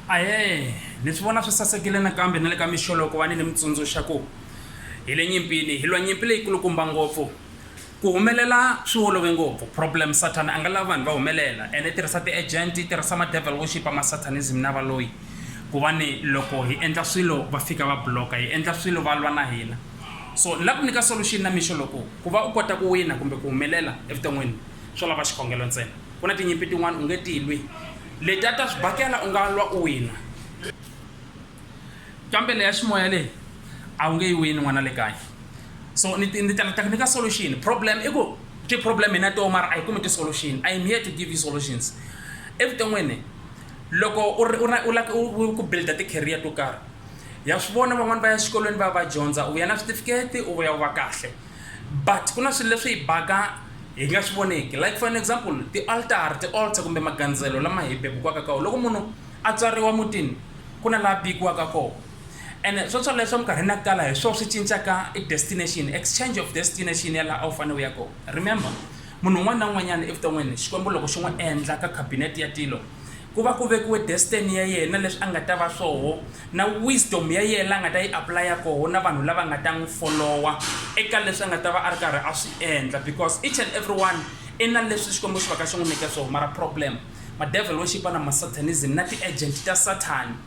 Ahee ni swi vona swi sasekile nakambe na le ka mixo loko va ni ni mi tsundzuxa ku hi le nyimpini hi lwa nyimpi leyi kulukumba ngopfu ku humelela swi olove ngopfu problem satan a nga lavi vanhu va humelela ene i tirhisa ti-agent i tirhisa ma-devil worship ma-satanism na valoyi ku va ni loko hi endla swilo va fika va block-a hi endla swilo va lwa na hina so ni lava ku nyika solution na mixo loko ku va u kota ku wina kumbe ku humelela evuton'wini swo lava xikhongelo ntsena Ku na tinyimpi tin'wana u nge ti lwi, letiya ta swibakela u nga lwa u wina, kambe leya ximoya leyi a wu nge yi wini n'wana le kaya. So ni ni ta ni ta ku nyika solution, problem i ku ti-problem hi na toho mara a hi kumi ti-solution. I am here to give you solutions. Evuton'wini loko u ri u ri u la ku u ku build-a ti-career to karhi, ha swi vona van'wani va ya xikolweni va ya va dyondza, u vuya na switifiketi, u vuya u va kahle. but ku na swilo leswi hi baka hi nga swi voneki like for an example ti-altar ti-altar kumbe magandzelo lama hi bebukwaka kawo loko munhu a tswariwa mutini ku na laha bikiwaka kona and swo swoleswo swa minkarhi na ku tala hi swona swi cincaka i destination exchange of destination ya laha a wu fanele u ya kona remember munhu un'wana na un'wanyana evuton'wini xikwembu loko xi n'wi endla ka cabinet ya tilo Ku va ku vekiwe destiny ya yena, leswi a nga ta va swoho, na wisdom ya yena la nga ta yi apply-a koho na vanhu lava nga ta n'wi follow-a eka leswi a nga ta va a ri karhi a swi endla because each and everyone i na leswi Xikwembu xi va ka xi n'wi nyike swoho mara problem ma devil worship na ma satanism na ti agent ta Sathani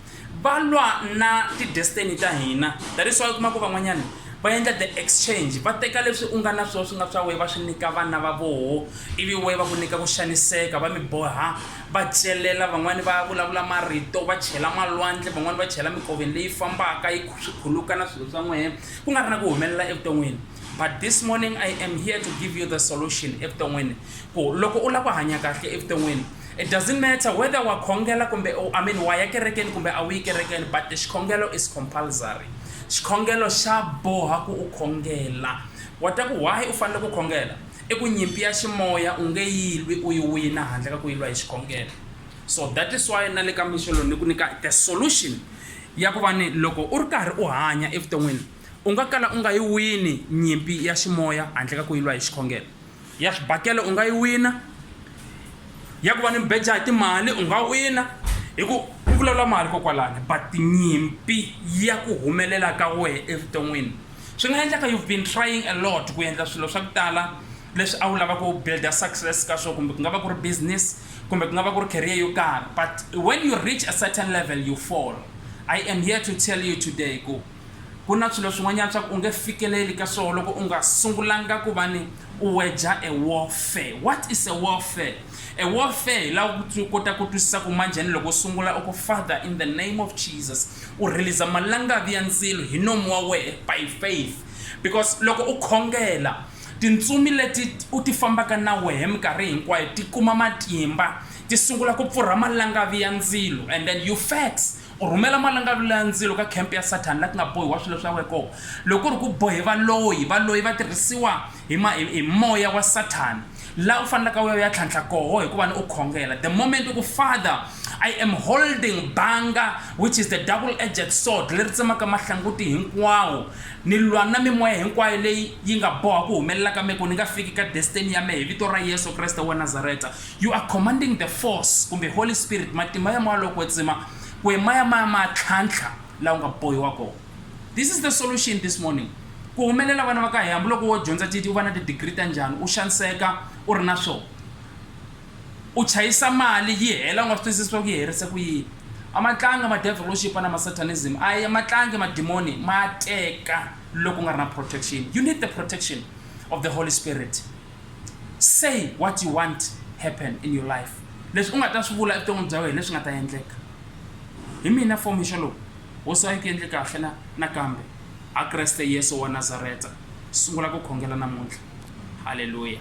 va lwa na ti-destiny ta hina that is why u kuma ku van'wanyana va endla the exchange va teka leswi u nga na swona swi nga swa wehe va swi nyika vana va voho ivi wehe va ku nyika ku xaniseka va mi boha va celela van'wani va vulavula marito va chela malwandle van'wani va chela mikoveni leyi fambaka yi swi khuluka na swilo swa n'wehe ku nga ri na ku humelela evuton'wini but this morning i am here to give you the solution evuton'wini ku loko u lava ku hanya kahle evuton'wini It doesn't matter whether wa khongela kumbe u, I mean wa ya kerekeni kumbe a wu yi kerekeni but xikhongelo is compulsory. Xikhongelo xa boha ku u khongela. Wa ta ku why u fanele ku khongela? I ku nyimpi ya ximoya u nge yi lwi u yi wina handle ka ku yi lwa hi xikhongelo. So that is why na le ka mixo lowu ni ku nyika the solution ya ku va ni loko u ri karhi u hanya evuton'wini u nga kala u nga yi wini nyimpi ya ximoya handle ka ku yi lwa hi xikhongelo. ya swibakele u nga yi wina ya ku va ni mbeja hi timali u nga wina hi ku ku vulavula mali kokwalani but nyimpi ya ku humelela ka wehe evuton'wini swi nga endlaka you've been trying a lot ku endla swilo swa ku tala leswi a wu lava ku builda success ka swona kumbe ku nga va ku ri business kumbe ku nga va ku ri career yo karhi but when you reach a certain level you fall i am here to tell you today ku Ku na swilo swin'wanyana swa ku u nge fikeleli ka swoho loko u nga sungulanga ku va ni u weja e warfare. What is a warfare? E warfare hi la ku u kota ku twisisa ku manjhani loko u sungula u ku Father in the name of Jesus u release malangavi ya ndzilo hi nomu wa wehe by faith because loko u khongela tintsumi leti u ti fambaka na wehe minkarhi hinkwayo ti kuma matimba ti sungula ku pfurha malangavi ya ndzilo and then you fax U rhumela malangavilu ya ndzilo ka khempe ya Sathana la ku nga bohiwa swilo swa wena kona. Loko ku ri ku bohe valoyi, valoyi va tirhisiwa hi ma, hi, hi moya wa Sathana, la u fanelaka u ya u ya tlhantlha koho hi ku va ni u khongela. The moment u ku, Father, I am holding banga, which is the double-edged sword, leri tsemaka mahlanguti hinkwawo, ni lwa na mimoya hinkwayo leyi yi nga boha ku humelela ka me ku ni nga fiki ka destiny ya me hi vito ra Yesu Kreste wa Nazareta. You are commanding the force kumbe Holy Spirit, matimba ya Moya lowo Kwetsima, ku e maya maya ma tlhantlha la u nga bohiwa kona. This is the solution this morning. Ku humelela vana va ka hina, hambiloko wo dyondza ti u va na ti-degree ta njhani, u xaniseka u ri na swona. U chayisa mali yi hela u nga swi twisisi swa ku yi herise ku yini. A ma tlanga ma devilship na ma satanism, a ma tlangi madimoni ma teka loko u nga ri na protection. You need the protection of the Holy Spirit. Say what you want happen in your life. Leswi u nga ta swi vula evuton'wini bya wena leswi nga ta endleka. Hi mina for mixo lowu wo swa yi ku endle kahle na nakambe a Kreste Yesu wa Nazareta sungula ku khongela namuntlha. Haleluya.